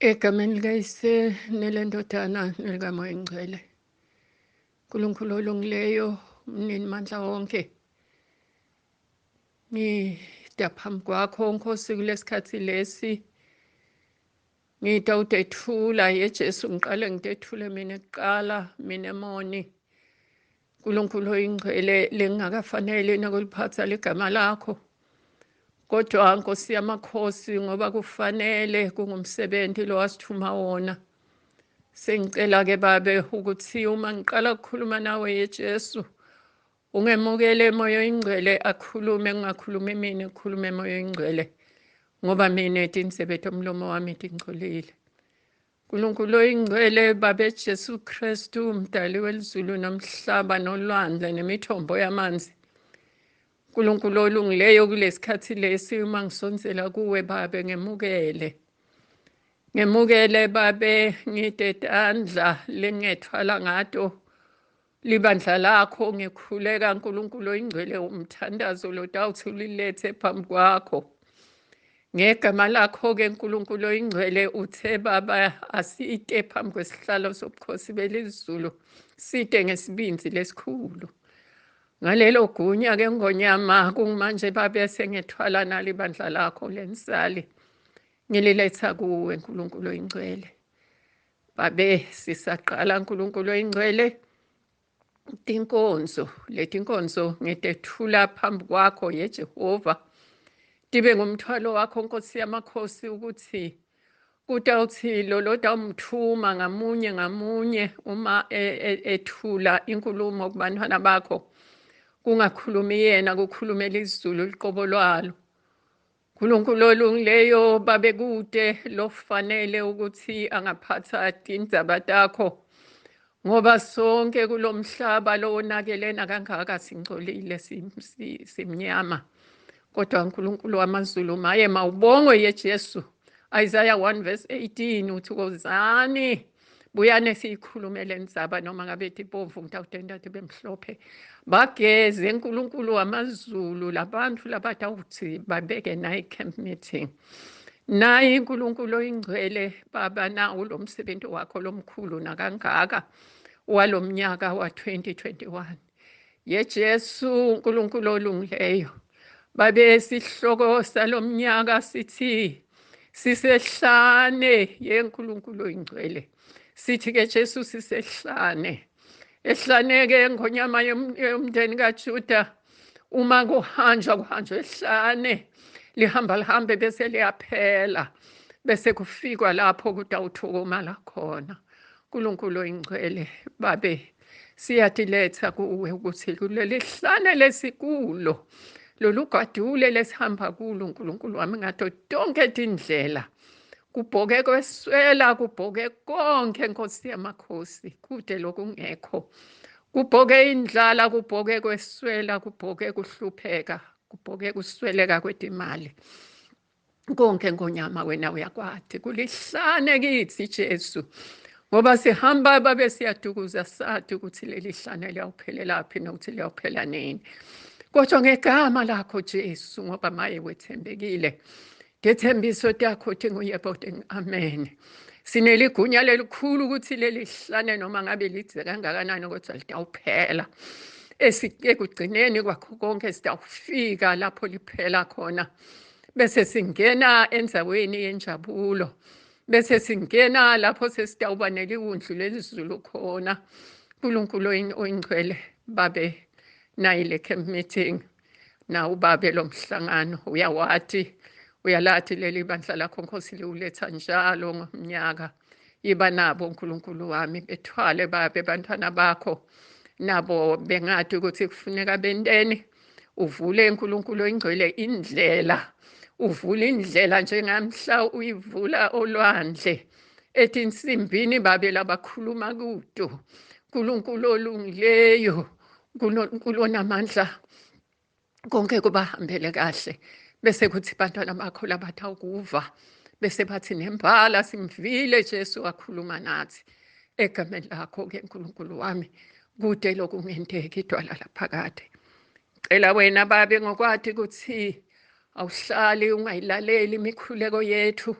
Egameni likayise nelendodana nelikamoya engcwele. Nkulunkulu olungileyo mnini mandla wonke ngida phambi kwakho nkosi kulesikhathi lesi ngida udethula yejesu ngiqale ngidethule mina kuqala mina emoni nkulunkulu oyingcwele lengingakafanele nakuliphatha ligama lakho kodwa nkosi yamakhosi ngoba kufanele kungumsebenzi lo wasithuma wona Sengicela ke babe ukuthi uma ngiqala ukukhuluma nawe yeJesu ungemukele emoya oyingcwele akhulume kungakhulumi mina kukhulume emoya oyingcwele ngoba mina etinsebethe umlomo wami tingcolile. Nkulunkulu oyingcwele babe Jesu Kristu umdali welizulu nomhlaba nolwandle nemithombo yamanzi Nkulunkulu olungileyo kulesikhathi lesi uma ngisonsela kuwe babe ngemukele ngemukele babe ngidedandla lengethwala ngato libandla lakho ngikhuleka Nkulunkulu oyingcwele umthandazo lodawuthi ulilethe phambi kwakho ngegama lakho-ke Nkulunkulu oyingcwele uthe baba asite phambi kwesihlalo sobukhosi belizulu site ngesibindi lesikhulu Ngalelo gunya ke ngonyama kumanje babe sengethwala nalo ibandla lakho lensali. Ngililetha kuwe Nkulunkulu oyingcwele. Babe sisaqala Nkulunkulu oyingcwele tinkonzo leti nkonzo ngitethula phambi kwakho yejehova tibe ngumthwalo wakho nkosi yamakhosi ukuthi Kutawuthi lo lotawumthuma ngamunye ngamunye uma e, e, ethula inkulumo kubantwana bakho kungakhulumi yena kukhulumela izulu liqobo lwalo uNkulunkulu olungileyo babekude lofanele ukuthi angaphatha indaba takho Ngoba sonke kulomhlaba lowonakelena kangaka singcolile simnyama. Kodwa uNkulunkulu wamazulu maye mawubongwe yeJesu. Isaiah 1 verse 18 uthi kozani buyane siyikhulumele ndzaba noma ngabe tibomvu ngitawutenta tibe mhlophe bageze nkulunkulu wamazulu labantu labatawuthi babeke nayi camp meeting naye unkulunkulu oyingcwele baba nawo lo msebenzi wakho lomkhulu nakangaka walo mnyaka wa-2021 yejesu unkulunkulu olungileyo babe sihloko salo mnyaka sithi sisehlane yenkulunkulu oyingcwele sithi ke jesu sisehlane ehlaneke ngonyama yomndeni kajuda uma kuhanjwa kuhanjwa ehlane lihamba lihambe bese liyaphela bese kufikwa lapho kutawuthokomala khona uNkulunkulu oyingcwele babe siyatiletha kuwe ukuthi kuleli hlane lesikulo lolu gadule lesihamba kulo uNkulunkulu wami ngato tonke tindlela kubhoke kweswela kubhoke konke nkosi yamakhosi kude lokungekho Kubhoke indlala, kubhoke kweswela, kubhoke kuhlupheka, kubhoke kusweleka kwetimali. Konke ngonyama wena uyakwati. Kulihlane kithi Jesu. Ngoba sihamba babe siyadukuza sati ukuthi leli hlane liyawuphelelaphi nokuthi liyawuphela nini. Kodwa ngegama lakho Jesu ngoba maye wethembekile. Ngethembiso takho uthi nguyeboding amen. Sineligunya lelikhulu ukuthi leli hlane noma ngabe lidze kangakanani kodwa litawuphela. Ekugcineni kwakho konke sitawufika lapho liphela khona. Bese singena enzaweni yenjabulo. Bese singena lapho sesitawuba neliwundlu lelizulu khona. Nkulunkulu oyingcwele babe nayile camp meeting na ubabe lo mhlangano uyawathi uyalathi leli bandla lakho nkosi liwuletha njalo ngomnyaka yiba nabo unkulunkulu wami bethwale babe bantwana bakho nabo bengathi ukuthi kufuneka benteni uvule unkulunkulu oyingcwele indlela uvule indlela njengamhla uyivula olwandle ethi insimbini babe labakhuluma kudo nkulunkulu olungileyo kunonkulu onamandla konke kubahambele kahle bese kuthi bantwana bakho labathi awukuva bese bathi nembala simvile jesu wakhuluma nathi egameni lakho-ke nkulunkulu wami kude lokungenteki idwala laphakade cela wena babe ngokwati ukuthi Awuhlali ungayilaleli imikhuleko yethu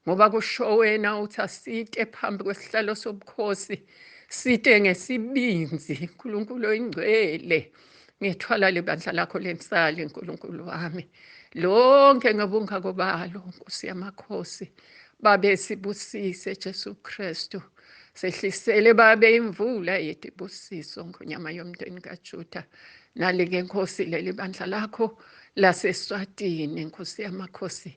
ngoba kusho wena uthi asite phambi kwesihlalo sobukhosi site ngesibinzi nkulunkulu oyingcwele ngethwala lebandla lakho lensali nkulunkulu wami lonke ngobungako balo nkosi yamakhosi babe sibusise jesu kristu Sehlisele babe imvula yetibusiso ngonyama yomndeni kaJuda nalike Nkosi leli bandla lakho laseSwatini Nkosi yamakhosi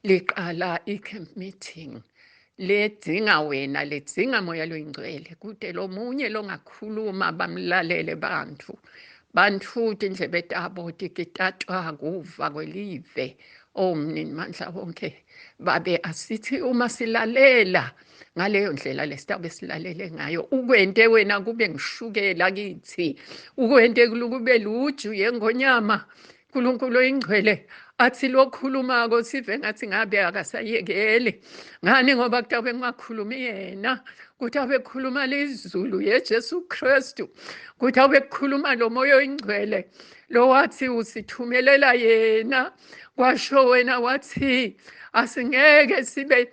liqala i-camp meeting ledzinga wena ledzinga moya loyingcwele kude lomunye longakhuluma bamlalele bantfu bantfu tindlebe tabo tikitatwa kuva kwelive o oh, mnini mandla wonke babe asithi uma silalela ngaleyo ndlela lesitaba esilalele ngayo ukwente wena kube ngishukela kithi ukwente kube luju yengonyama uNkulunkulu oyingcwele athi lokhulumako sive ngathi ngabe akasayekeli ngani ngoba kutawube kungakhulumi yena kuthi abekhuluma lizulu yeJesu Kristu kuthi abekhuluma lo moya oyingcwele lo wathi usithumelela yena kwasho wena wathi asingeke sibe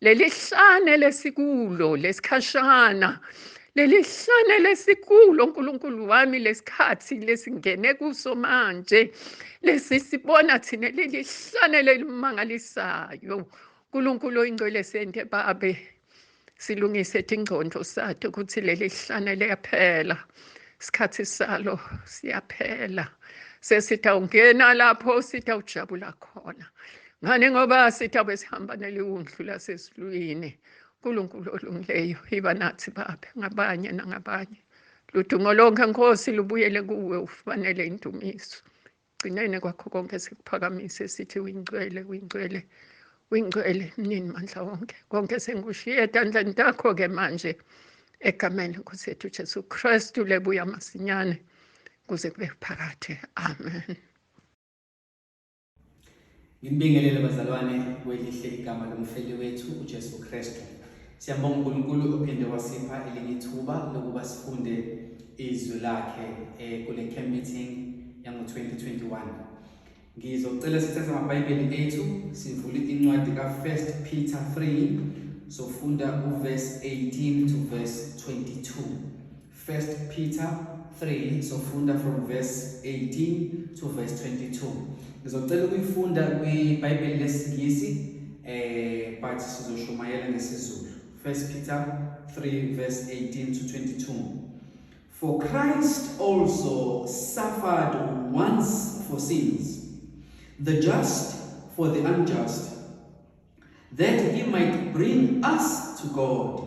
lelihlane lesikulo lesikhashana lelihlane lesikulo nkulunkulu wami lesikhathi lesingene kuso manje lesi sibona thina lelihlane lelimangalisayo nkulunkulu oyingcwele sente babe silungise tingcondo sathi ukuthi leli hlane liyaphela isikhathi salo siyaphela sesithi awungena lapho sithi awujabula khona Ngani ngoba sithi abesihamba neliwundlu lasesilwini uNkulunkulu olungileyo iba nathi Baba ngabanye nangabanye ludumo lonke Nkosi lubuyele kuwe ufanele indumiso gcinene kwakho konke sikuphakamise sithi wingcwele wingcwele wingcwele mnini mandla wonke konke sengikushiye etandleni takho-ke manje egameni lenkosi yethu jesu kristu lebuya masinyane kuze kube phakade amen Nginibingelele bazalwane kwelihle igama lomfeli wethu uJesu Kristu. Siyambonga uNkulunkulu ophinde wasipha elinye ithuba lokuba sifunde izwi lakhe eh, kule camp meeting yango-2021. Ngizocela sithathe amaBhayibheli ethu sivule incwadi ka-First Peter 3 sofunda uverse 18 to verse 22. First Peter 3 sofunda from verse 18 to verse 22. Ngizocela ukuyifunda kwiBhayibheli lesiNgisi eh but sizoshumayela ngesiZulu. First Peter 3 verse 18 to 22. For Christ also suffered once for sins, the just for the unjust, that he might bring us to God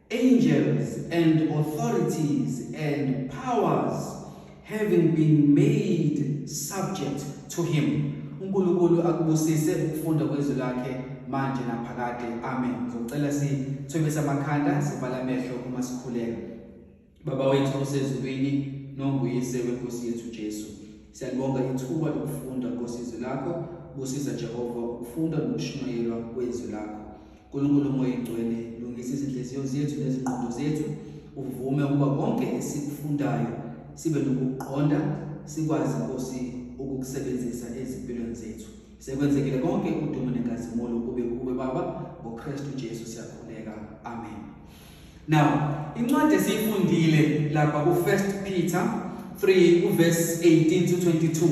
angels and authorities and powers having been made subject to him uNkulunkulu akubusise ukufunda kwezwi lakhe manje naphakade amen ngizocela sithobise amakhanda sivala amehlo uma sikhuleka Baba wethu osezulwini nonguyise wenkosi yethu Jesu siyalibonga ithuba lokufunda ngosizo lakho kusiza Jehova ukufunda nokushumayelwa kwezwi lakho Nkulunkulu moya ingcwele lungisa izinhliziyo zethu nezingqondo zethu uvume ukuba konke esikufundayo sibe nokuqonda sikwazi Nkosi ukukusebenzisa ezimpilweni zethu sekwenzekile konke udumo nenkazimulo kube kuwe baba ngoKristu Jesu siyakhuleka amen Now, incwadi esiyifundile lapha ku First Peter 3 uverse 18 to 22.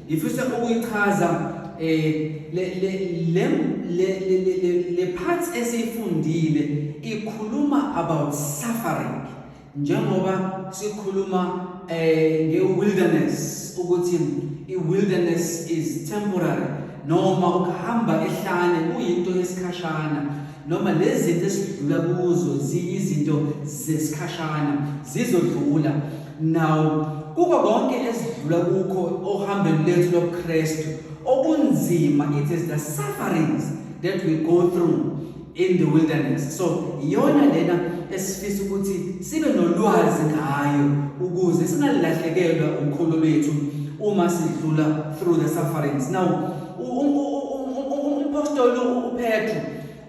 Ngifisa ukuyichaza eh le le le le le parts esiyifundile ikhuluma about suffering njengoba sikhuluma eh nge wilderness ukuthi i wilderness is temporary noma ukuhamba ehlane kuyinto yesikhashana noma lezi zinto esidlula kuzo ziyizinto zesikhashana zizodlula nawo kuko konke esidlula kukho ohambeni lethu lobuKristu okunzima it is the sufferings that we go through in the wilderness so iyona lena esifisa ukuthi sibe nolwazi ngayo ukuze singalahlekelwa ukholo lwethu uma sidlula through the sufferings now umphostoli uPetru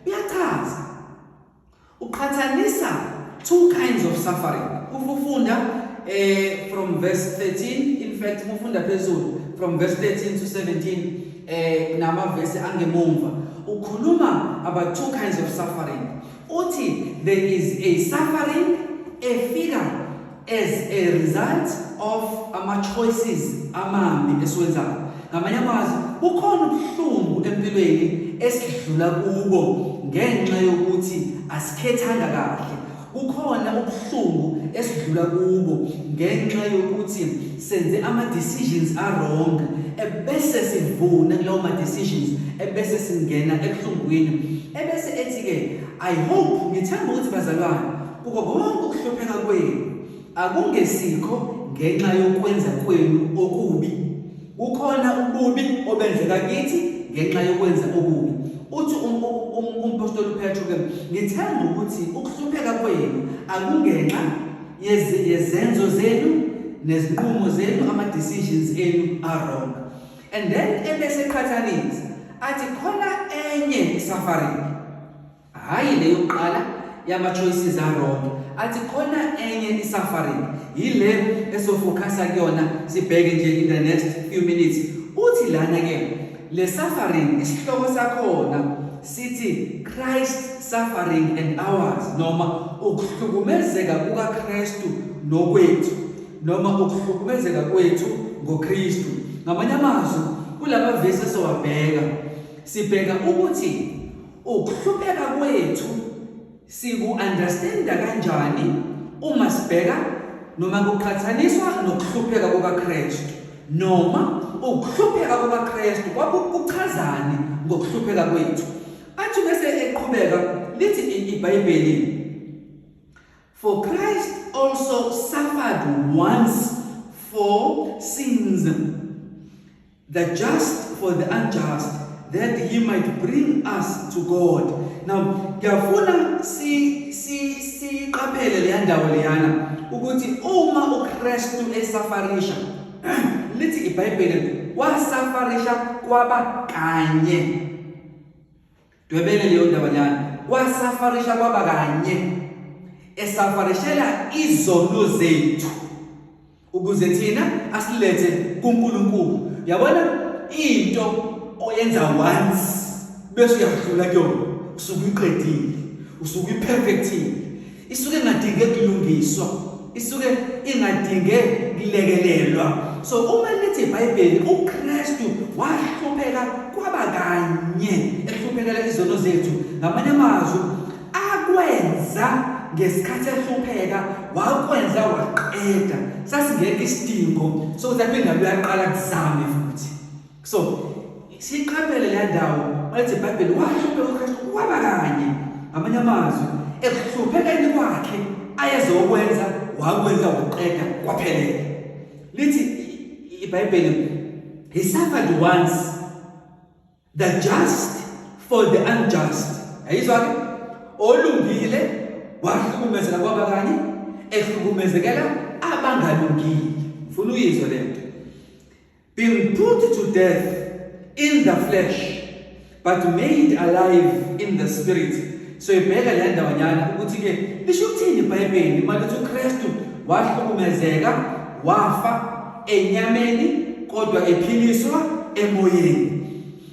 uyachaza uqhathanisa two kinds of suffering ufunda eh from verse 13 in fact ufunda phezulu from verse 13 to 17 eh namavesi angemumva ukhuluma about two kinds of suffering uthi there is a suffering efika as a result of ama-choices amambi esiwenzayo ngamanye amazwi kukhona ubuhlungu empilweni esidlula kubo ngenxa yokuthi asikhethanga kahle kukhona ubuhlungu esidlula kubo ngenxa yokuthi senze ama-decisions arong ebese sivuna kulawo ma-decisions ebese singena ebuhlungwini ebese ethi-ke i hope ngithemba ukuthi bazalwane Kuko konke ukuhlupheka kwenu akungesikho ngenxa yokwenza kwenu okubi. Kukhona ububi obenzeka kithi ngenxa yokwenza okubi. Uthi um, um, um, umpostoli uPetru ke ngithemba ukuthi ukuhlupheka kwenu akungenxa yezenzo zenu nezinqumo zenu ama decisions enu are wrong. And then ebese qhathanisa athi khona enye suffering Hhayi le yokuqala yama-choices aronke athi khona enye i-suffering yile esofokhasa kuyona sibheke nje in the next few minutes uthi lana-ke le suffering isihloko sakhona sithi christ suffering and ours noma ukuhlukumezeka kukakristu nokwethu noma ukuhlukumezeka kwethu ngokristu ngamanye amazwi kula mavesi esowabheka sibheka ukuthi Ukuhlupheka kwethu siku-understanda kanjani uma sibheka noma kuqhathaniswa nokuhlupheka kukaKristu? Noma ukuhlupheka kukaKristu kwakukuchazani ngokuhlupheka kwethu? Athi bese eqhubeka lithi iBhayibheli For Christ also suffered once for sins The just for the unjust that he might bring us to God. Now ngiyafuna si si siqaphele le ndawo leyana ukuthi uma uKristu esafarisha lithi iBhayibheli wasafarisha kwaba kanye Dwebele leyo ndaba nyana. Wasafarisha kwaba kanye. Esafarishela izono zethu ukuze thina asilethe kuNkulunkulu. Yabona into oyenza once bese uyadlula kuyona. Usuke uqedile. Usuke uperfectile. isuke ingadinge kulungiswa isuke ingadinge kulekelelwa so uma lithi ibhayibheli ukristu wahlupheka kwaba kanye ehluphekela izono zethu ngamanye amazwi akwenza ngesikhathi ehlupheka wakwenza waqeda sasingekho isidingo sokuthi aphinde uyaqala kuzame futhi so siqaphele le ndawo wayethi ibhayibheli wahlupheka ukristu waba kanye ngamanye amazwi ekuhluphekeni kwakhe ayezokwenza wakwenza ukuqeda kwaphelele lithi ibhayibheli he suffered once the just for the unjust yayizwa ke olungile wahlukumezela kwaba kanye ehlukumezekela abangalungile ngifuna uyizwe lento being put to death in the flesh but made alive in the spirit so ibheka le ndawanyana ukuthi ke lisho ukuthini ibhayibheli uma lithi uKristu wahlukumezeka wafa enyameni kodwa ephiliswa emoyeni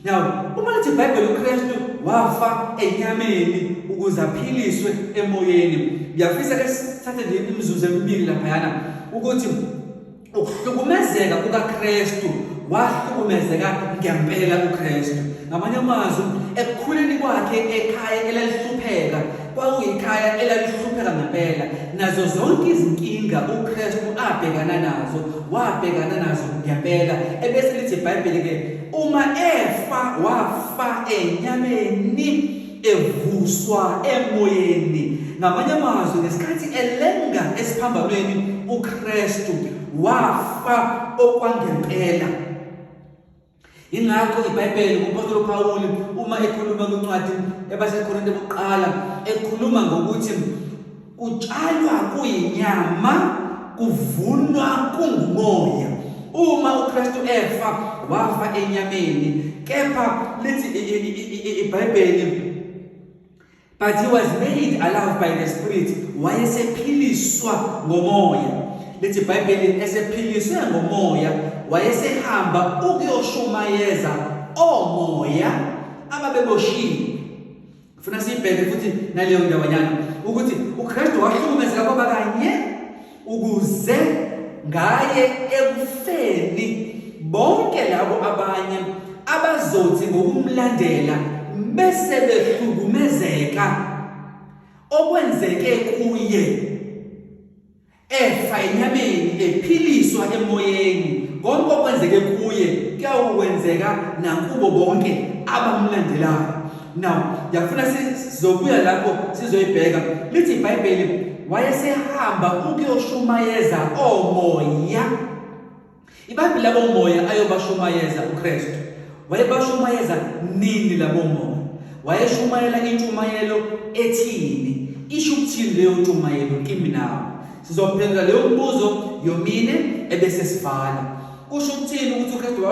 now uma lithi ibhayibheli uKristu wafa enyameni ukuze aphiliswe emoyeni ngiyafisa ke sithathe nje imizuzu emibili laphayana ukuthi ukuhlukumezeka kukaKristu wahlukumezeka ngempela uKristu ngamanye amazwi ekukhuleni kwakhe ekhaya elalihlupheka kwakuyikhaya elalihlupheka ngempela nazo zonke izinkinga uKristu abhekana nazo wabhekana nazo ngempela ebese lithi iBhayibheli ke uma efa wafa enyameni evuswa emoyeni ngamanye amazwi ngesikhathi elenga esiphambanweni uKristu wafa okwangempela ingakho iBhayibheli umpostoli uPawulu uma ekhuluma kwincwadi ebaseKorinte bokuqala ekhuluma ngokuthi Kutshalwa kuyinyama, kuvunwa kungumoya. Uma uKristu efa, wafa enyameni. Kepha lithi iBhayibheli but he was made alive by the spirit wayesephiliswa ngomoya lithi iBhayibheli esephiliswe ngomoya wayesehamba ukuyoshumayeza omoya ababeboshiwe Ngifuna siyibheke futhi naleyo ndawanyana ukuthi uKristu wahlukumezeka kwaba kanye ukuze ngaye ekufeni bonke labo abanye abazothi ngokumlandela bese behlukumezeka okwenzeke kuye efa enyameni ephiliswa emoyeni konke okwenzeke kuye kuyawokwenzeka nakubo bonke abamlandelayo now ndiyafuna sizobuya lapho sizoyibheka lithi ibhayibheli wayesehamba ukuyoshumayeza oomoya Ibhayibheli labomoya ayobashumayeza uKristu. Wayebashumayeza nini labomoya? Wayeshumayela intshumayelo ethini? Isho ukuthini leyo ntshumayelo kimi nawe? Sizophendula leyo mbuzo yomine ebese sivala. Kusho ukuthini ukuthi uKristu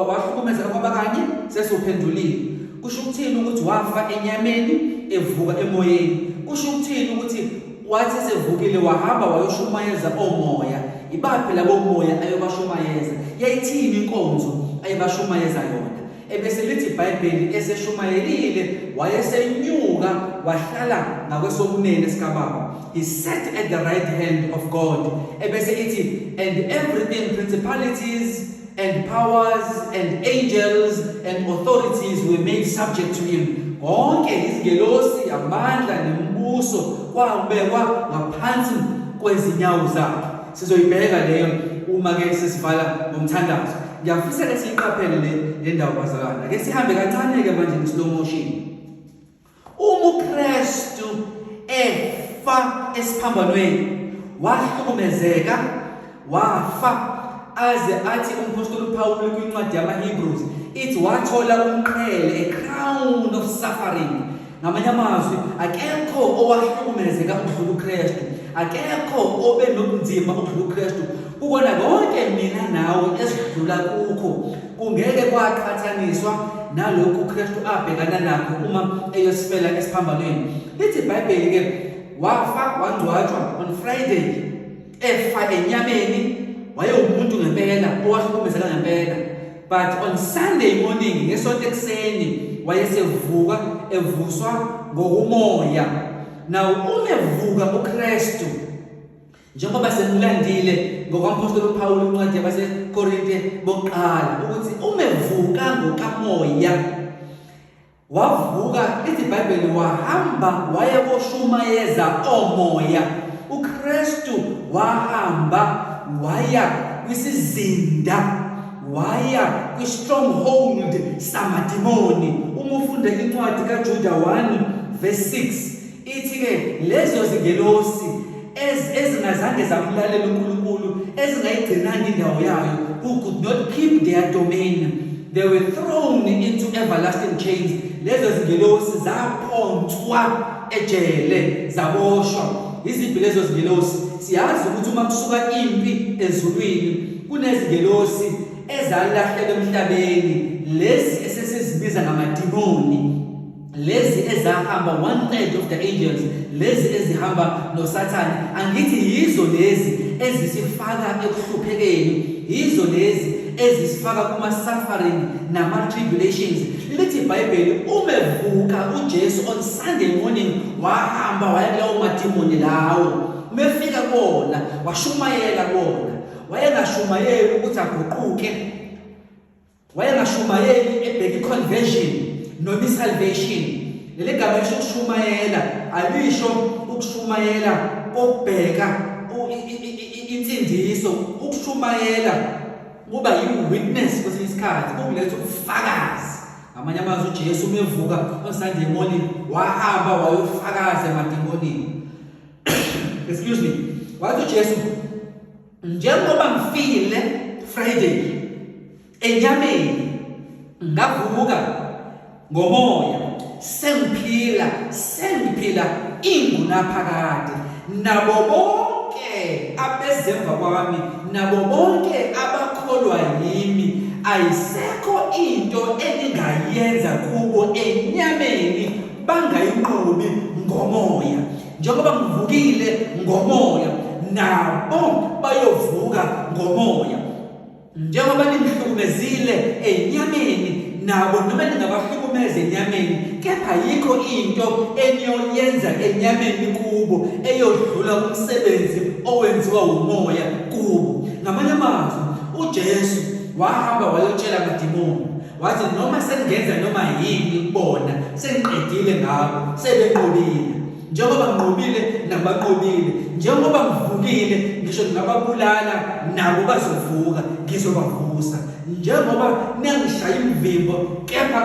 wahlukumezeka kwaba kanye? Sesuphendulile. Kusho ukuthini ukuthi wafa enyameni evuka emoyeni? Kusho ukuthini ukuthi Wathi esevukile wahamba wayoshumayeza omoya. Ibaphi labo moya ayobashumayeza? Yayithini inkonzo ayebashumayeza yona? Ebese lithi iBhayibheli eseshumayelile wayesenyuka wahlala ngakwesokunene sikaBaba. He sat at the right hand of God. Ebese ithi and everything principalities and powers and angels and authorities were made subject to him konke izingelosi amandla nembuso kwabekwa ngaphansi kwezinyawo zakhe sizoyibheka leyo uma ke sesivala ngomthandazo ngiyafisa ke siyiqaphele le ndawo bazalwana ke sihambe kancane ke manje ngeSlow motion Uma uKristu efa esiphambanweni wahlukumezeka wafa aze athi umpostoli uPawulu kwincwadi yamaHebrews ithi wathola umqhele a crown of suffering ngamanye amazwi akekho owahlukumezeka ukudlula uKristu akekho obe nobunzima ukudlula uKristu Kukona konke mina nawe esidlula kukho kungeke kwaqhathaniswa nalokhu uKristu abhekana nakho uma eyosifela esiphambanweni. Lithi iBhayibheli ke wafa wangcwatshwa on Friday efa enyameni wayewumuntu ngempela owahlukumezeka ngempela but on Sunday morning ngesonto ekuseni wayesevuka evuswa ngokumoya. Now uma evuka uKristu njengoba sekulandile ngokwamphostoli uPawulu incwadi yabaseKorinte bokuqala ukuthi uma evuka ngokamoya wavuka ithi iBhayibheli wahamba waya koshumayeza omoya uKristu wahamba waya kwisizinda waya kwi-stronghold samadimoni uma ufunda incwadi kaJuda 1 verse 6 Ithi-ke lezo zingelosi ezingazange zamlalela uNkulunkulu ezingayigcinanga indawo yayo who could not keep their domain they were thrown into everlasting chains lezo zingelosi zaphonswa ejele zaboshwa iziphi lezo zingelosi siyazi ukuthi uma kusuka impi ezulwini kunezingelosi ezalahleka emhlabeni lezi esesizibiza ngamadimoni lezi ezahamba one third of the angels lezi ezihamba nosathane angithi yizo lezi ezisifaka ekuhluphekeni yizo lezi ezisifaka kuma suffering nama tribulations lithi iBhayibheli umevuka uJesu on Sunday morning wahamba waya kulawo madimoni lawo mefika kona washumayela kona wayengashumayeli ukuthi aguquke wayengashumayeli ebheka iconversion noma isalvation leli gama lisho ukushumayela alisho ukushumayela kokubheka insindiso ukushumayela kuba yi-witness kwesinye isikhathi kukuletha ubufakazi ngamanye amazwi ujesu umevuka on-sunday morning wahamba wayofakaza emademonini excuse me wathi ujesu njengoba ngifile Friday enyameni ngavuka ngomoya sengiphila sengiphila ingunaphakade nabo bonke abezemva kwami nabo bonke abakholwa yimi ayisekho into eningayenza kubo enyameni bangayinqobi ngomoya njengoba ngivukile ngomoya nabo bayovuka ngomoya njengoba nimhlukumezile enyameni nabo noma ningabahlukumeza enyameni kepha yikho into eniyoyenza enyameni kubo eyodlula umsebenzi owenziwa umoya kubo ngamanye amazwi uJesu wahamba wayotshela amadimoni wathi noma sengenza noma yini kubona sengiqedile ngabo sebenqobile njengoba nginqobile nabanqobile njengoba ngivukile ngisho ngingababulala nabo bazovuka ngizobavusa njengoba niyangishaya imvimbo kepha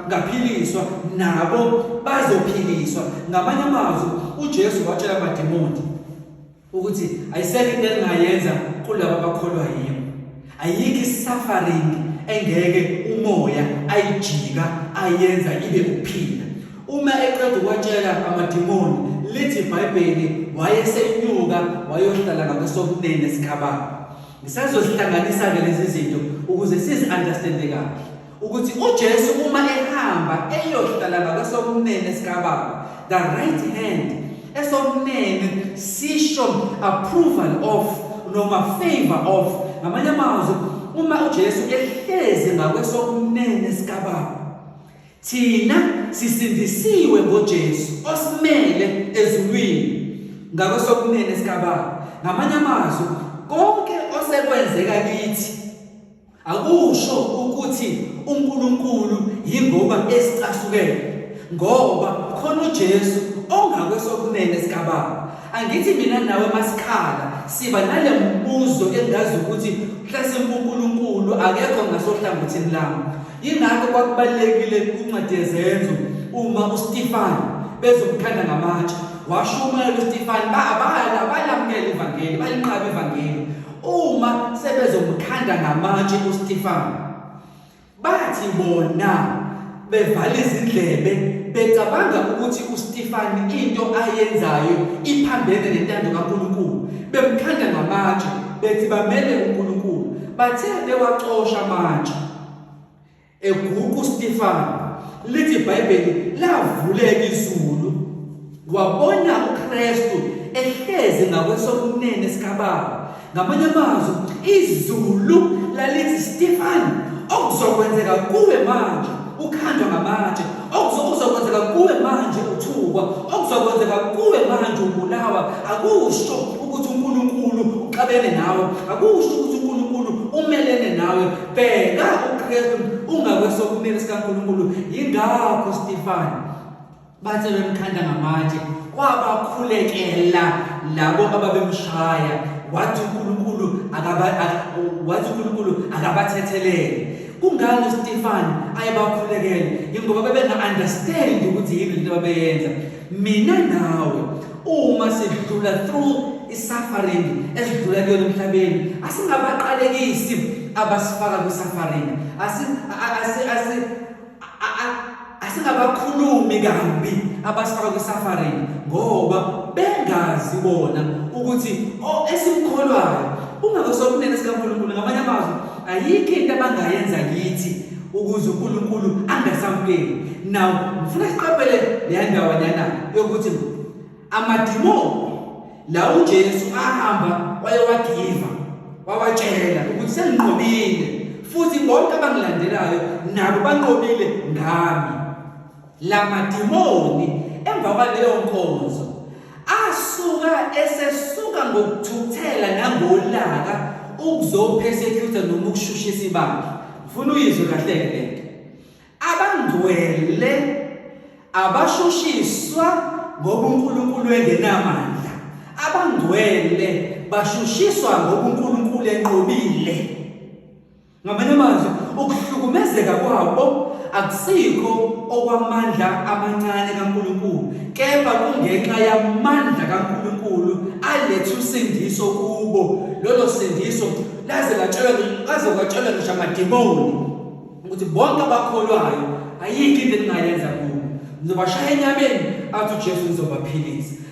ngaphiliswa nabo bazophiliswa ngamanye amazwi uJesu watshela amademoni ukuthi ayisekho into elingayenza kulabo abakholwa yimi ayikho i-suffering engeke umoya ayijika ayenza ibe ukuphila uma eqeda ukwatshela amadimoni lithi ibhayibheli wayesenyuka wayohlala ngakwesokunene sikababa ngisazozihlanganisa-ke lezi zinto ukuze sizi-understande kahle ukuthi uJesu uma ehamba eyohlala ngakwesokunene sikaBaba the right hand esokunene sisho approval of noma favor of ngamanye amazwi uma uJesu ehlezi ngakwesokunene sikaBaba thina sisindisiwe ngoJesu osimele ezulwini ngakwesokunene sikaBaba ngamanye amazwi konke osekwenzeka kithi Akusho ukuthi uNkulunkulu yingoba esicasukele ngoba khona uJesu ongakwesokunene sikaBaba. Angithi mina nawe masikhala siba nale mbuzo engazi ukuthi mhlasimbe uNkulunkulu akekho ngasohlangothini lami. Yingakho kwakubalekile kuncwadi yezenzo uma uStefan bezomkhanda ngamatshe washumayela uStefan babala balamukela ivangeli balinqaba ivangeli Uma sebezomkhanda ngamatshe uStefano bathi bona bevala izindlebe becabanga ukuthi uStefani into ayenzayo iphambene nentando kaNkulunkulu bemkhanda ngamatshe bethi bamele uNkulunkulu bathe bewacosha amatshe Eguqu uStefano lithi iBhayibheli lavuleka izulu wabona uKristu ehlezi ngakwesokunene sikaBaba. Ngamanye amazwi izulu lalithi Stefano okuzokwenzeka kuwe manje ukhandwa ngamatshe okuzokwenzeka kuwe manje uthukwa okuzokwenzeka kuwe manje ubulawa akusho ukuthi uNkulunkulu uxabene nawe akusho ukuthi uNkulunkulu umelene nawe bheka uKristu ungakwesokunene sikaNkulunkulu yingakho Stefan bathe bemkhanda ngamatshe kwabakhulekela labo ababemshaya wathi uNkulunkulu akaba wathi uNkulunkulu akabathethelele kungani uStefan ayebakhulekela ingoba bebenga understand ukuthi yini into abeyenza mina nawe uma sidlula through i-suffering esidlula kuyona emhlabeni asingabaqalekisi abasifaka kwi-suffering asingabakhulumi kambi abasifaka kwi-suffering ngoba bengazi bona ukuthi oh, esimkholwayo ungakosokunene sikankulunkulu ngamanye amazwi ayikho into abangayenza kithi ukuze uNkulunkulu angasamkeli now ngifuna siqaphele leya ndawanyana yokuthi amadimoni la uJesu ahamba wayewagiva wawatshela ukuthi senginqobile futhi bonke abangilandelayo nabo banqobile ngami La madimoni emva kwaleyo nkonzo asuka esesuka ngokuthukuthela nangolaka ukuzopersecuta noma ukushushisa ibandla ngifuna uyizwe kahle ke lento abangcwele abashushiswa ngoba uNkulunkulu engenamandla abangcwele bashushiswa ngoba uNkulunkulu enqobile Ngamanye amazwi ukuhlukumezeka kwabo akusikho okwamandla amancane kaNkulunkulu kepha kungenxa yamandla kaNkulunkulu aletha usindiso kubo lolo sindiso laze latshelwa kaze kwatshelwa ngisho amademoni ukuthi bonke abakholwayo ayikho into engingayenza kubo ngizobashaya enyameni athi uJesu ngizobaphilisa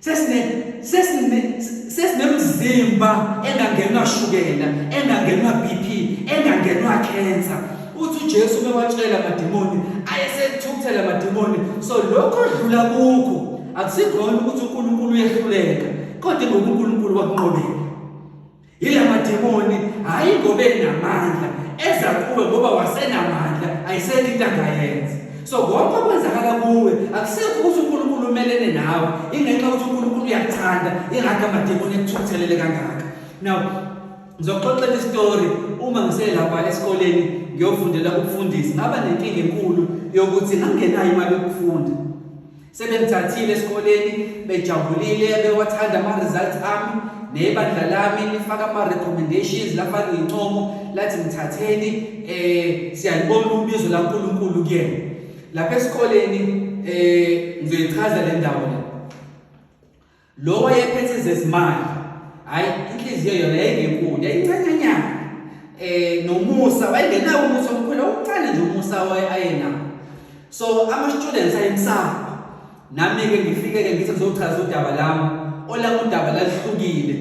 sesine sesine sesinemzimba engangenwa shukela engangenwa BP engangenwa cancer uthi uJesu bewatshela amademoni ayesethukthela amademoni so lokho odlula kukho akusikhona ukuthi uNkulunkulu uyehluleka kodwa ngoba uNkulunkulu wakunqobela Yila mademoni hhayi ngoba enamandla eza kuwe ngoba wasenamandla ayisekho into angayenza. So konke okwenzakala kuwe akusekho ukuthi uNkulunkulu umelene nawe ingenxa yokuthi uNkulunkulu uyakuthanda ingakho amademoni ekuthuthelele kangaka. Now ngizoxoxela isitori uma ngiselapha esikoleni ngiyofundela ukufundisa ngaba nenkinga enkulu yokuthi ngangenayo imali yokufunda Sebengithathile esikoleni bejabulile bewathanda ama results ami nebandla lami lifaka ama recommendations lafaka incomo lathi ngithatheni eh siyalibona ubizo laNkulunkulu kuyena lapha esikoleni eh ngizoyichaza le ndawo le Lo wayephethe zezimali. Hayi inhliziyo yona yayingenkulu, yayincanyanyana. Eh nomusa wayengenawo umusa omkhulu, uncane nje umusa waye ayenawo. So ama students ayemsaba. Nami ke ngifike ke ngithi ngizochaza udaba lami. Olami udaba lalihlukile.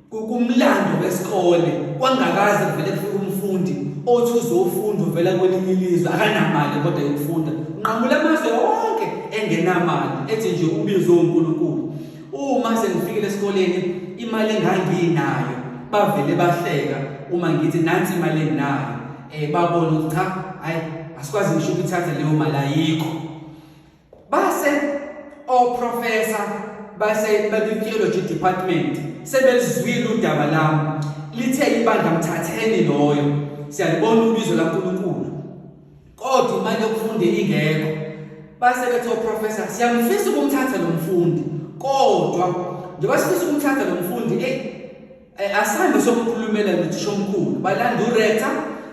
Kukumlando wesikole kwangakaze kuvele kufike umfundi othi uzofunda uvela kwelinye ilizwe akanamali kodwa yokufunda nqamula amazwe wonke engenamali ethi nje ubizwe uNkulunkulu uma sengifikile esikoleni imali enganginayo bavele bahleka uma ngithi nansi imali enginayo eh babona ukuthi cha hayi asikwazi ngisho ukuthatha leyo mali ayikho base oprofessor base betheology department sebelizwile udaba lami lithe ibandla mthatheni loyo siyalibona ubizo laNkulunkulu kodwa imali yokufunda ingekho base bethi oprofessor siyamfisa ukumthatha lo mfundi kodwa njengoba sifisa ukumthatha lo mfundi hey Eh, Asambe sokukhulumela nothishomkhulu balanda uRector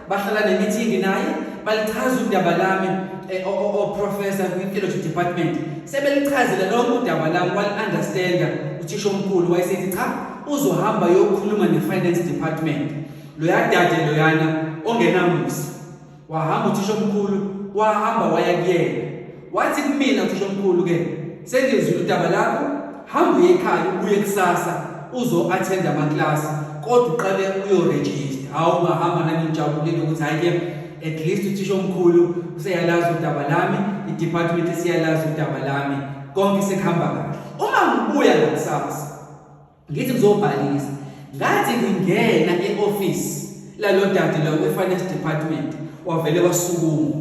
bahlala nemithingi naye balichaza udaba lami eh, oprofessor kwi-theology department sebelichazela lonke udaba lami wali-understanda uthishomkhulu wayesethi cha uzohamba yokukhuluma ne-finance department loyadade loyana ongenamusa Wahamba uthisha omkhulu, wahamba waya kuyena. Wathi kumina uthisha omkhulu ke, sengizwile udaba lakho, hamba uye ekhaya ubuye kusasa uzo attend ama class kodwa uqale uyo register. Hawu ngahamba nami ngijabulile ukuthi hayi ke at least uthisha omkhulu useyalazi udaba lami, i department isiyalazi udaba lami. Konke sekuhamba kahle. Uma ngibuya ngakusasa ngithi ngizobhalisa ngathi ngingena e-ofisi lalo dade lawo kwi-finance department wavele wasukuma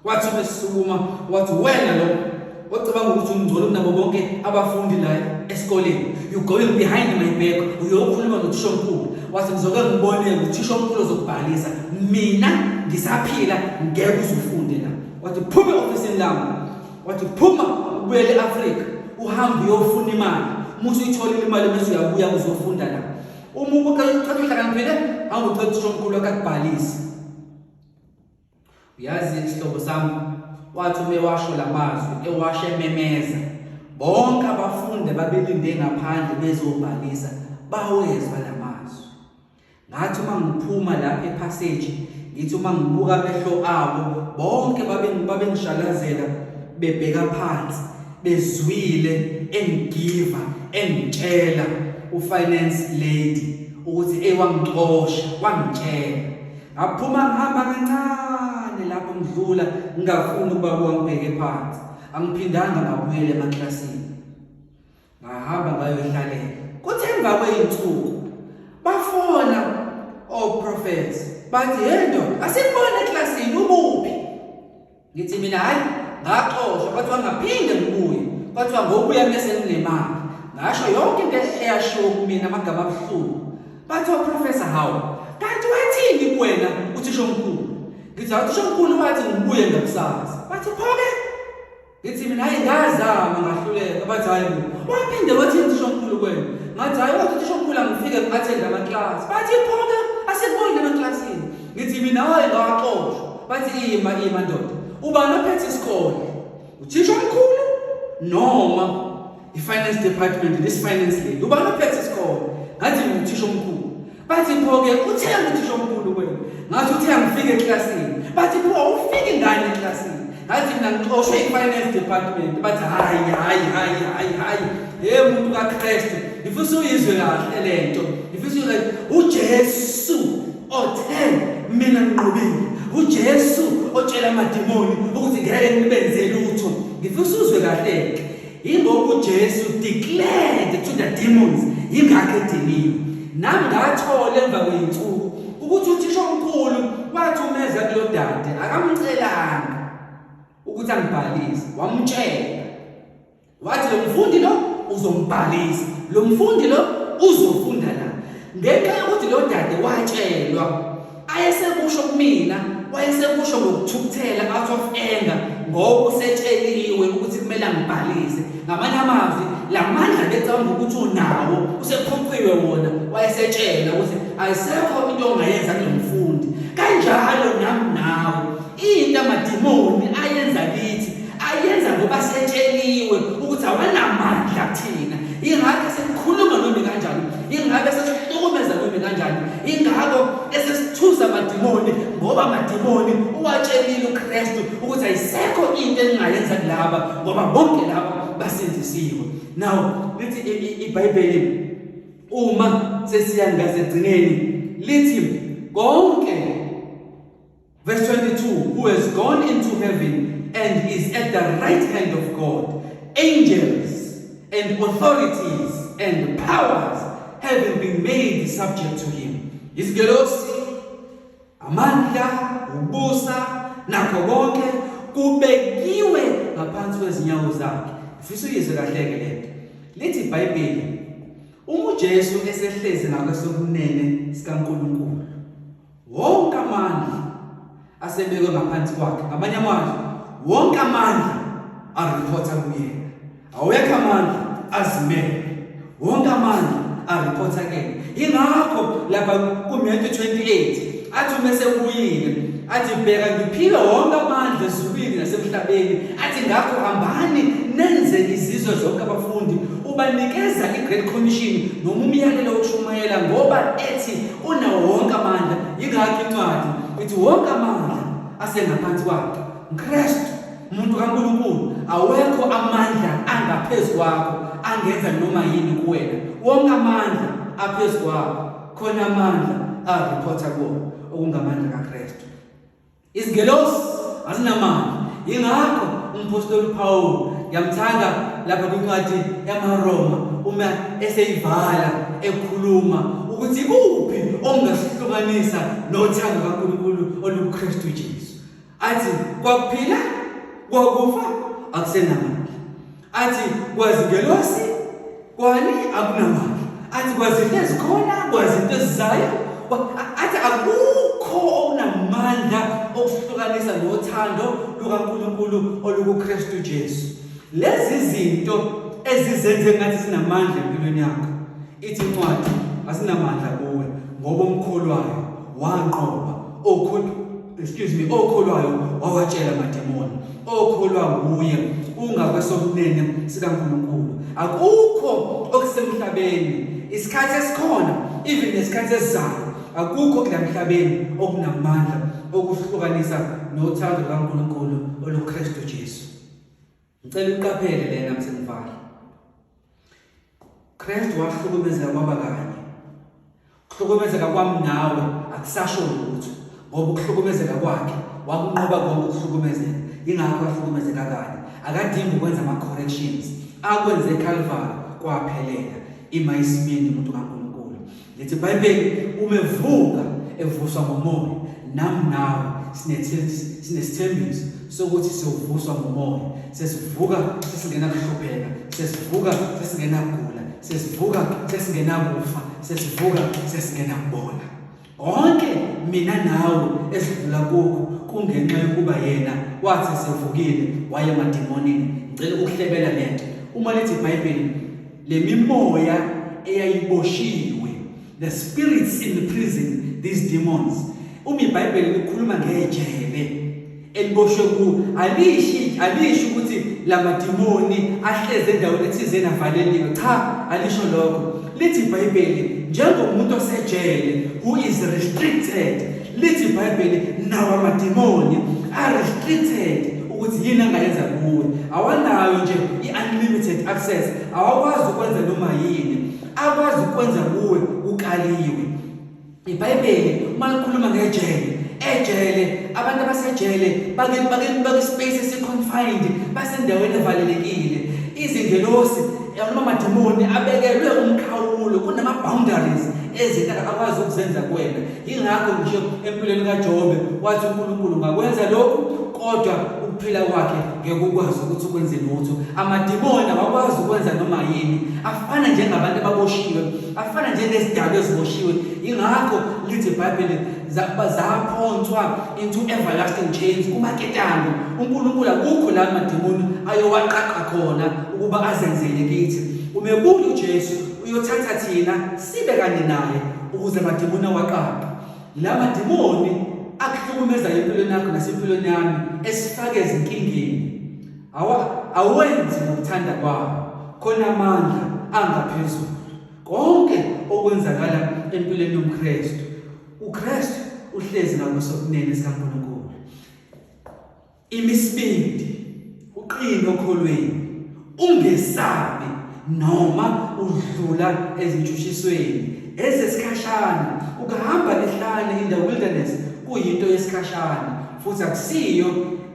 wathi uma esukuma wathi wena lo ocabanga ukuthi umngcolo kunabo bonke abafundi la esikoleni you going behind my back uyokhuluma nothishomkhulu wathi ngizoke ngibone uthishomkhulu ozokubhalisa mina ngisaphila ngeke uzufunde la wathi phuma e-ofisini lami wathi phuma ubuyele e-afrika uhambe uyofuna imali uma usuyitholile imali bese uyabuya uzofunda la uma ubuqeda uqeda uhlakaniphile hamba ucela uthisha omkhulu wakhe akubhalise uyazi isihlobo sami wathi uma ewasho la mazwi ewasho ememeza bonke abafundi babelinde ngaphandle bezobhalisa bawezwa la Ngathi uma ngiphuma lapha ephaseji ngithi uma ngibuka amehlo abo bonke babengishalazela bebheka phansi bezwile engigiva engitshela ufinance lady ukuthi ewangixosha wangitshela ngaphuma ngihamba kancane lapho ngidlula ngingafuni ukuba kuwangibheke phansi angiphindanga ngabuyele emaklasini ngahamba ngayohlalela kuthe emva kwey'nsuku bafona oprofes bathi he ndoda asikubona eklasini ubuphi ngithi mina hhayi ngaxoshwa kwathiwa ngaphinde ngibuye kwathiwa ngokubuya mese nginemali ngasho yonke into eyashiwo kumina amagama abuhlungu bathi oprofesa hawu kanti wathini kuwena uthisho omkhulu ngithi uthisho omkhulu wathi ngibuye ngakusasa bathi phoke Ngithi mina hayi ngazama ngahluleka bathi hayi waphinde wathi uThishomkhulu kwena ngathi hayi wathi uThishomkhulu angifike ngiathende amaklasi bathi phonke asikholile emaklasini ngithi mina hayi ngawaxoshwa bathi ima ima ndoda ubani ophethe isikole uThishomkhulu noma i-finance department this finance lady ubani ophethe isikole ngathi nguthisha omkhulu bathi pho-ke uthe uthishomkhulu kwenu ngathi uthe angifike eklasini bathi pho awufiki ngani eklasini ngathi mina ngixoshwe i-finance department bathi hhayi hhayi hhayi hhayi hhayi ye muntu kakristu ngifisa uyizwe kahle le nto ngifisa uyizwe ujesu othe mina nginqobile ujesu otshela amadimoni ukuthi ngeke ngibenze lutho ngifisa uzwe kahle-ke Yingoba uJesu declared to the demons yingakho ediniwe. Nami ngathola emva kweyinsuku ukuthi uthisha omkhulu wathumeza kulodade akamcelanga ukuthi angibhalise wamtshela wathi lo mfundi lo uzombhalisa lo mfundi lo uzofunda la ngenxa yokuthi lo dade watshelwa ayesekusho kumina wayesekusho ngokuthukuthela out of anger ngoba usetsheliwe ukuthi kumele angibhalise ngamanye amazwi la mandla becabanga ukuthi unawo usephuciwe wona wayesetshela ukuthi ayisekho into ongayenza kulo mfundi kanjalo nami nawe Into amadimoni ayenza kithi ayenza ngoba setsheliwe ukuthi awanamandla kuthina. Ingakho sekukhuluma noma kanjani, ingakho sesihlukumeza noma kanjani, ingakho esesithusa amadimoni ngoba amadimoni uwatshelile uKristu ukuthi ayisekho into engingayenza kulaba ngoba bonke laba basindisiwe. Now lithi iBhayibheli uma sesiya ngazegcineni lithi konke Verse 22 Who has gone into heaven and is at the right hand of God, angels and authorities and powers having been made subject to him. Izingelosi, amandla, ubusa, nakho konke kubekiwe ngaphansi kwezinyawo zakhe. Ngifisa uyizwe kahle-ke lento. Lithi iBhayibheli, uma uJesu esehlezi ngakwesokunene sikaNkulunkulu, wonke amandla asebekwe ngaphansi kwakhe ngamanye amandla wonke amandla ariphotha kuyena awekho amandla azimele wonke amandla ariphotha kuyena yingakho lapha kuMatthew 28 athi uma sekuyile athi bheka ngiphile wonke amandla ezulwini nasemhlabeni athi ngakho hambani nenze izizwe zonke abafundi ubanikeza i-great commission noma umyalelo wokushumayela ngoba ethi unawo wonke amandla yingakho incwadi ithi wonke amandla asengaphansi kwakhe mkristu umuntu kankulunkulu awekho amandla angaphezu kwakho angenza noma yini kuwena wonke amandla aphezu kwakho khona amandla arephotha kuwo okungamandla kakristu Izingelosi azinamandla. Yingakho umphostoli uPawulu ngiyamthanda lapha kwincwadi yamaRoma uma eseyivala ekhuluma ukuthi ikuphi ongasihlukanisa nothando kaNkulunkulu olukuKristu Jesu. Athi kwakuphila kwakufa akusenamandla. athi kwazingelosi kwani akunamali athi kwazinto ezikhona kwazinto ezizayo athi akukho okunamandla okuhlukanisa nothando lukaNkulunkulu olukuKristu Jesu lezi zinto ezizenze ngathi sinamandla empilweni yakho Ithi incwadi, Asinamandla kuwe, ngoba omkholwayo wanqoba okhona excuse me okholwayo wawatshela amademoni okholwa nguye ungakwesokunene sikaNkulunkulu akukho okusemhlabeni isikhathi esikhona even nesikhathi esizayo akukho kulamhlabeni okunamandla okuhlukanisa nothando lukaNkulunkulu oluKristu Jesu Ngicela uqaphele lena msengivale. Kristu wahlukumezeka kwaba kanye. Kuhlukumezeka kwami nawe akusasho lutho ngoba ukuhlukumezeka kwakhe wakunqoba konke ukuhlukumezeka. Ingakho ahlukumezeka kanye. Akadingi ukwenza ama corrections. Akwenze eCalvary kwaphelela. Ima isimini umuntu kaNkulunkulu. Lithi iBhayibheli uma evuka evuswa ngomoya nami nawe sinesithembiso sokuthi siyovuswa ngomoya sesivuka sesingena kuhlupheka sesivuka sesingena kugula sesivuka sesingena kufa sesivuka sesingena kubona konke mina nawe esidlula kukho kungenxa yokuba yena wathi sevukile waye madimonini ngicela ukuhlebela lento uma lithi iBhayibheli le mimoya eyayiboshiwe the spirits in the prison these demons uma ibhayibheli likhuluma ngejele eliboshwe ku alishi alishi ukuthi lamadimoni ahleze endaweni ethizeni avaleliwe cha alisho lokho lithi ibhayibheli njengomuntu osejele who is restricted Lithi iBhayibheli nawo amademoni are restricted ukuthi yini angayenza kuwe. Awanayo nje i-unlimited access, awakwazi ukwenza noma yini. Akwazi ukwenza kuwe ukaliwe. IBhayibheli uma likhuluma ngejele, ejele abantu abasejele bake bake bake space esiconfined basendaweni evalelekile. Izingelosi noma amademoni abekelwe umkhawulo kunama boundaries ezinto akwazi ukuzenza kuwena Yingakho nje empilweni kaJobe wathi uNkulunkulu ngakwenza lokhu kodwa ukuphila kwakhe ngekukwazi ukuthi ukwenze lutho. Amadimoni awakwazi ukwenza noma yini. Afana njengabantu ababoshiwe, afana njengezidalwa eziboshiwe. Yingakho lithi iBhayibheli zaphonswa into everlasting chains kumaketanga. UNkulunkulu akukho la madimoni ayowaqaqa khona ukuba azenzele kithi. Umebuli uJesu uyothatha thina sibe kanye naye ukuze amadimoni awaqaqe la madimoni akuhlukumeza empilweni yakho nasempilweni yami esifake ezinkingeni awenzi ngokuthanda kwawo khona amandla angaphezulu konke okwenzakala empilweni yomkristu ukristu uhlezi ngakusokunene sikankulunkulu Imisibindi uqine okholweni ungesabi noma udlula ezintshutshisweni ezesikhashana ukahamba lihlane in the wilderness kuyinto yesikhashana futhi akusiyo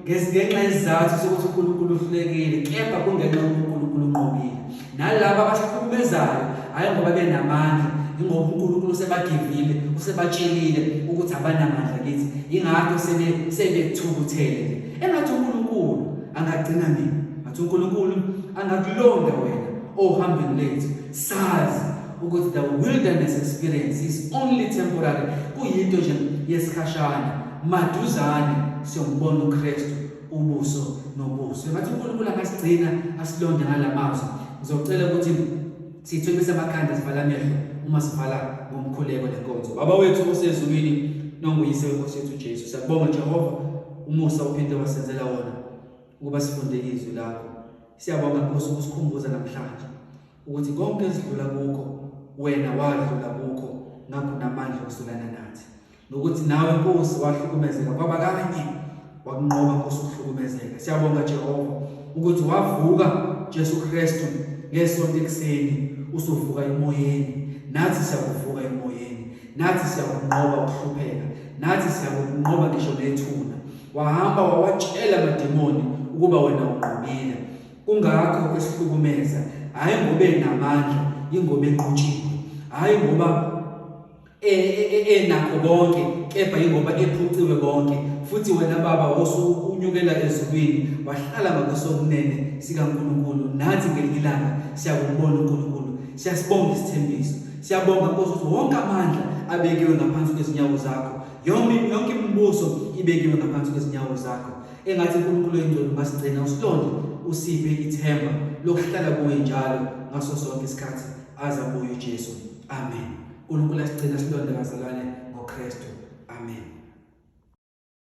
ngesingenxa yesizathu sokuthi uNkulunkulu uhlulekile kepha kungenxa yokuNkulunkulu unqobile nalabo abasihlukumezayo hhayi ngoba benamandla ingoba unkulunkulu usebagivile usebatshelile ukuthi abanamandla kithi yingakho sebethukuthele engathi unkulunkulu angagcina mina ngathi unkulunkulu angakulonda wena ohambeni lethu sazi ukuthi the wilderness experience is only temporary kuyinto nje yesikhashana maduzane siyombona uKristu ubuso nobuso engathi unkulunkulu angasigcina asilonde ngala mazwi ngizocela ukuthi sithwekise amakhanda sivala amehlo uma sivala ngomkhuleko nenkonzo baba wethu osezulwini nonguyise wenkosi yethu ujesu siyakubonga jehova umusa uphinde wasenzela wona ukuba sifunde izwi lakho siyabonga nkosi ukusikhumbuza namhlanje ukuthi konke esidlula kukho wena wadlula kukho ngakho namandla okusulana nathi nokuthi nawe Nkosi wahlukumezeka kwaba kanye wakunqoba Nkosi ukuhlukumezeka siyabonga Jehova ukuthi wavuka Jesu Kristu ngesonto ekseni usuvuka emoyeni nathi siyakuvuka emoyeni nathi siyakunqoba ukuhlupheka nathi siyakunqoba ngisho nethuna wahamba wawatshela amademoni ukuba wena unqobile kungakho esihlukumeza hayi ngobe namandla ingoba enqutshile hayi ngoba enakho konke kepha yingoba ephuciwe konke futhi wena baba wosukunyukela ezulwini wahlala ngakwesokunene sikaNkulunkulu nathi ngelinye ilanga siyakubona uNkulunkulu siyasibonga isithembiso siyabonga Nkosi ukuthi wonke amandla abekiwe ngaphansi kwezinyawo zakho yonke yonke imibuso ibekiwe ngaphansi kwezinyawo zakho engathi uNkulunkulu oyingcwele masigcina usilonde usiphe ithemba lokuhlala kuwe njalo ngaso sonke isikhathi azabuye uJesu amen uNkulunkulu asigcina silonde bazalwane ngoKristu. Amen.